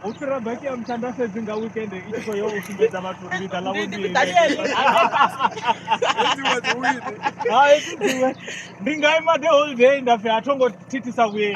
u fhira baki ya mutanda fhedzi nga weekend i tshi khou yo u sumbedza vhathu uri ḽiga ḽa vhondiwe ndi nga ima the whole day nda pfhi a tho ngo thithisa vhuyeli